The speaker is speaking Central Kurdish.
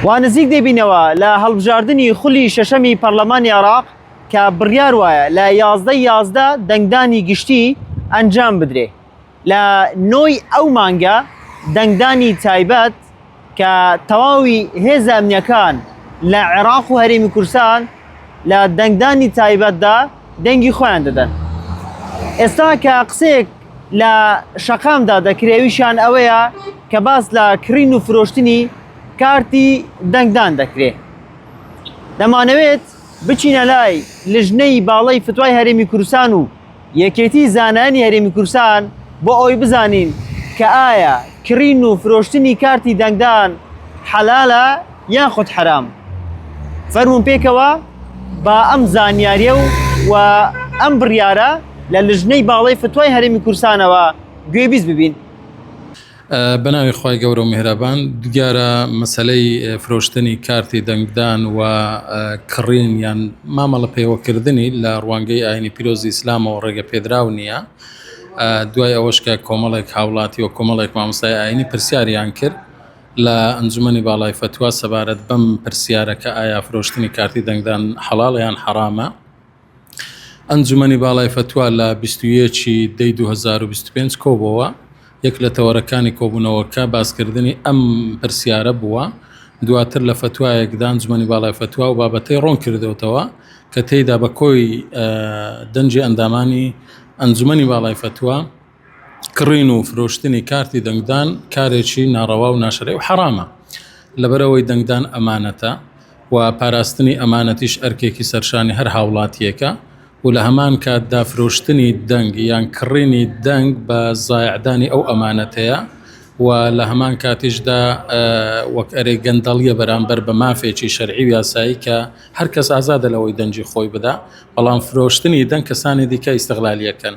وا نزیک دەبینەوە لە هەڵبژاردنی خولی شەشەمی پەرلەمانی عێراق کە بڕیار وایە لە یازدە یازدە دەنگدانی گشتی ئەنجام بدرێ لە نۆی ئەو مانگە دەنگدانی تایبەت کە تەواوی هێزە ئەمنیەکان لە عێراق و هەرێمی کورسان لە دەنگدانی تایبەتدا دەنگی خۆیان دەدەن ئێستا کە قسەیەک لە شەقامدا دەکرێ ئەویشیان ئەوەیە کە باس لە کڕین و فرۆشتنی کارتی دەنگدان دەکرێ دەمانەوێت بچینە لای لژنەی باڵی فتوای هەرێمی کورسان و یەکێتی زانانی هەرێمی کورسان بۆ ئەوی بزانین کە ئایا کڕین و فرۆشتنی کارتی دەنگدان حەلالە یاخود حەرام فەرموون پێکەوە با ئەم زانیاریە و و ئەم بڕیارە لە لژنەی باڵی فتوای هەرمی کورسانەوە گوێ بیست ببین بەناوی خی گەورە و میهرەبان دیارە مەسلەی فرۆشتنی کارتی دەنگدان و کڕین یان مامەڵە پێوەکردنی لە ڕوانگەی ئاینی پیرۆزی ئیسلامەوە ڕێگە پێدراو نییە دوای ئەوەشکە کۆمەڵێک هاوڵاتی و کۆمەڵێک مامۆستای ئاینی پرسیاریان کرد لە ئەنجومەنی باڵای فەتوا سەبارەت بەم پرسیارە کە ئایا فرۆشتنی کارتی دەنگدان حەڵاڵە یان حەڕامە، ئەنجومەنی باڵای فەتوا لە بیست و یەک ی دە ی دوو هەزار و بیست و پێنج کۆبۆوە، یەک لە تەوەرەکانی کۆبوونەوەکە باسکردنی ئەم پرسیارە بووە، دواتر لە فەتوایەکدا ئەنجومەنی باڵای فەتوا ئەو بابەتەی ڕوونکردۆتەوە کە تێیدا بە کۆی دەنگی ئەندامانی ئەنجومەنی باڵای فەتوا، کڕین و فرۆشتنی کارتی دەنگدان کارێکی ناڕەوا و ناشەرعی و حەڕامە، لەبەرئەوەی دەنگدان ئەمانەتە و پاراستنی ئەمانەتیش ئەرکێکی سەرشانی هەر هاوڵاتییەکە و لە هەمان کاتدا فرۆشتنی دەنگ یان کڕینی دەنگ بە زایعدانی ئەو ئەمانەتەیە و لە هەمان کاتیشدا وەک ئەرێ گەندەڵیە بەرامبەر بە مافێکی شەرعی و یاسایی کە هەر کەس ئازادە لەوەی دەنگی خۆی بدا، بەڵام فرۆشتنی دەنگ کەسانی دیکە ئیستغلالیەکەن.